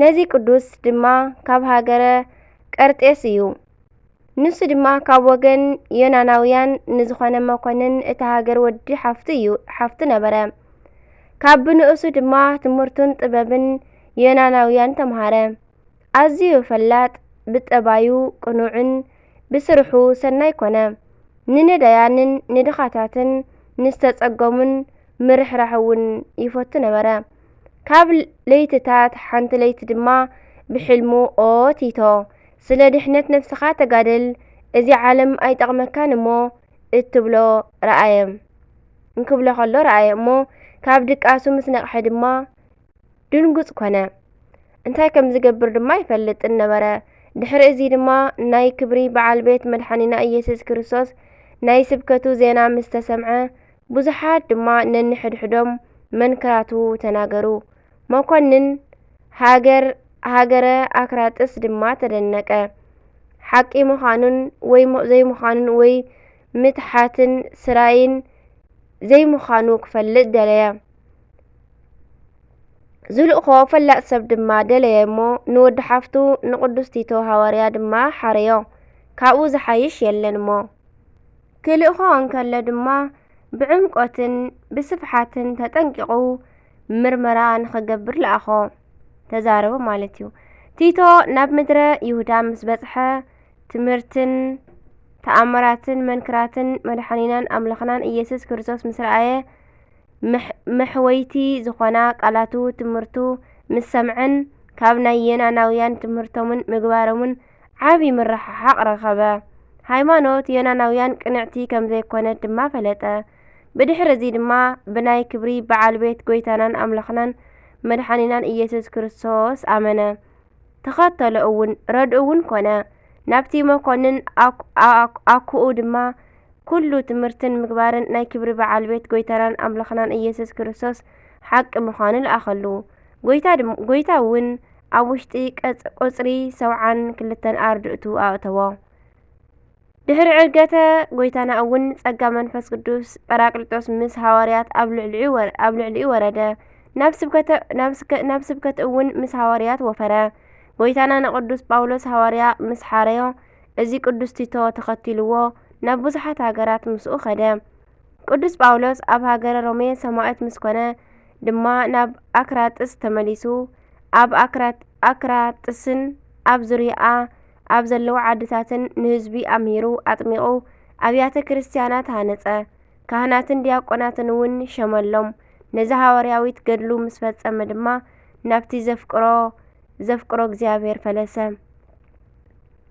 ነዚ ቅዱስ ድማ ካብ ሃገረ ቀርጤስ እዩ። ንሱ ድማ ካብ ወገን ዮናናውያን ንዝኾነ መኮንን እቲ ሃገር ወዲ ሓፍቱ እዩ ሓፍቱ ነበረ። ካብ ብንእሱ ድማ ትምህርቱን ጥበብን ዮናናውያን ተምሃረ። ኣዝዩ ፈላጥ፣ ብጠባዩ ቅኑዕን ብስርሑ ሰናይ ኮነ። ንነዳያንን ንድኻታትን ንዝተጸገሙን ምርሕራሕ እውን ይፈቱ ነበረ። ካብ ለይትታት ሓንቲ ለይቲ ድማ ብሕልሙ ኦ ቲቶ ስለ ድሕነት ነፍስኻ ተጋደል እዚ ዓለም ኣይጠቕመካን እሞ እትብሎ ረኣየ እንክብሎ ከሎ ረኣየ እሞ ካብ ድቃሱ ምስ ነቕሐ ድማ ድንጉጽ ኮነ እንታይ ከም ዝገብር ድማ ኣይፈልጥን ነበረ ድሕሪ እዚ ድማ ናይ ክብሪ በዓል ቤት መድሓኒና ኢየሱስ ክርስቶስ ናይ ስብከቱ ዜና ምስ ተሰምዐ ብዙሓት ድማ ነንሕድሕዶም መንክራቱ ተናገሩ። መኮንን ሃገር ሃገረ ኣክራጥስ ድማ ተደነቀ። ሓቂ ምዃኑን ወይ ዘይምዃኑን ወይ ምትሓትን ስራይን ዘይምዃኑ ክፈልጥ ደለየ። ዝልእኮ ፈላጥ ሰብ ድማ ደለየ እሞ ንወዲ ሓፍቱ ንቅዱስ ቲቶ ሃዋርያ ድማ ሓረዮ። ካብኡ ዝሓይሽ የለን እሞ። ክልእኮ እንከሎ ድማ ብዕምቆትን ብስፍሓትን ተጠንቂቑ ምርመራ ንኸገብር ለኣኾ፣ ተዛረቦ ማለት እዩ። ቲቶ ናብ ምድረ ይሁዳ ምስ በጽሐ ትምህርትን ተኣምራትን መንክራትን መድሓኒናን ኣምላኽናን ኢየሱስ ክርስቶስ ምስ ረኣየ መሕወይቲ ዝኾና ቃላቱ ትምህርቱ ምስ ሰምዐን ካብ ናይ የናናውያን ትምህርቶምን ምግባሮምን ዓቢ ምርሕሓቕ ረኸበ። ሃይማኖት ዮናናውያን ቅንዕቲ ከም ዘይኰነት ድማ ፈለጠ። ብድሕሪ እዚ ድማ ብናይ ክብሪ በዓል ቤት ጐይታናን ኣምላኽናን መድሓኒናን ኢየሱስ ክርስቶስ ኣመነ። ተኸተሎ እውን፣ ረድኡ እውን ኰነ። ናብቲ መኰንን ኣኩኡ ድማ ኵሉ ትምህርትን ምግባርን ናይ ክብሪ በዓል ቤት ጐይታናን ኣምላኽናን ኢየሱስ ክርስቶስ ሓቂ ምዃኑ ለኣኸሉ። ጐይታ እውን ኣብ ውሽጢ ቍጽሪ ሰብዓን ክልተን ኣርድእቱ ኣእተዎ። ድሕሪ ዕርገተ ጐይታና እውን ጸጋ መንፈስ ቅዱስ ጰራቅሊጦስ ምስ ሃዋርያት ኣብ ልዕሊኡ ወረደ፣ ናብ ስብከት እውን ምስ ሃዋርያት ወፈረ። ጐይታና ንቅዱስ ጳውሎስ ሃዋርያ ምስ ሓረዮ፣ እዚ ቅዱስ ቲቶ ተኸቲልዎ ናብ ብዙሓት ሃገራት ምስኡ ከደ። ቅዱስ ጳውሎስ ኣብ ሃገረ ሮሜ ሰማእት ምስ ኮነ ድማ ናብ ኣክራጥስ ተመሊሱ ኣብ ኣክራጥስን ኣብ ዙርያኣ ኣብ ዘለዉ ዓድታትን ንህዝቢ ኣምሂሩ ኣጥሚቑ ኣብያተ ክርስትያናት ሃነጸ ካህናትን ዲያቆናትን እውን ሸመሎም ነዚ ሃዋርያዊት ገድሉ ምስ ፈጸመ ድማ ናብቲ ዘፍቅሮ ዘፍቅሮ እግዚኣብሔር ፈለሰ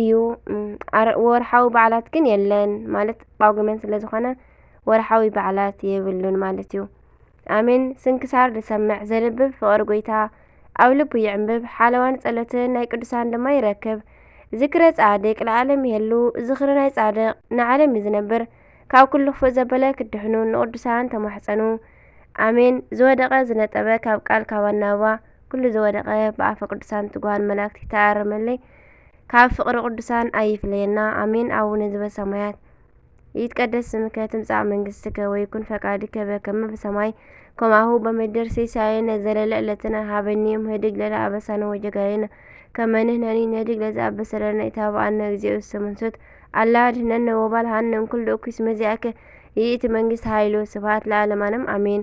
እዩ ወርኃዊ በዕላት ግን የለን ማለት ጳጕሜን ስለ ዝኾነ ወርኃዊ በዕላት የብሉን ማለት እዩ ኣሜን ስንክሳር ዝሰምዕ ዘልብብ ፍቕር ጐይታ ኣብ ልቡ ይዕምብብ ሓለዋን ጸሎትን ናይ ቅዱሳን ድማ ይረክብ ዝክረ ጻድቅ ለዓለም የሉ ዝኽሪ ናይ ጻድቅ ንዓለም እዩ ዝነብር ካብ ኲሉ ኽፉእ ዘበለ ክድሕኑ ንቕዱሳን ተማሕጸኑ ኣሜን ዝወደቐ ዝነጠበ ካብ ቃል ካብ ኣናብባ ኩሉ ዝወደቀ ብኣፈ ቅዱሳን ትጉሃን መላእክት ይተኣረመለይ ካብ ፍቅሪ ቅዱሳን ኣይፍለየና ኣሜን። ኣቡነ ዝበሰማያት ይትቀደስ ስምከ ትምጻእ መንግስትከ ወይኩን ፈቃድከ በከመ በሰማይ ከማሁ በምድር ሲሳየነ ዘለለ ዕለትነ ሀበኒ ዮም ህድግ ለለ አበሳነ ወጀጋየነ ከመ ንሕነኒ ንህድግ ለዘ አበሰለነ ኢታብአነ እግዚኦ ውስተ መንሱት አላ አድኅነነ ወባልሐነ እምኩሉ እኩይ እስመ ዚአከ ይእቲ መንግስት ኃይሉ ስብሐት ለዓለማንም አሜን።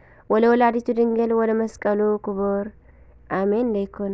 ወለወላዲቱ ድንግል ወለመስቀሉ ክቡር ኣሜን ለይኩን።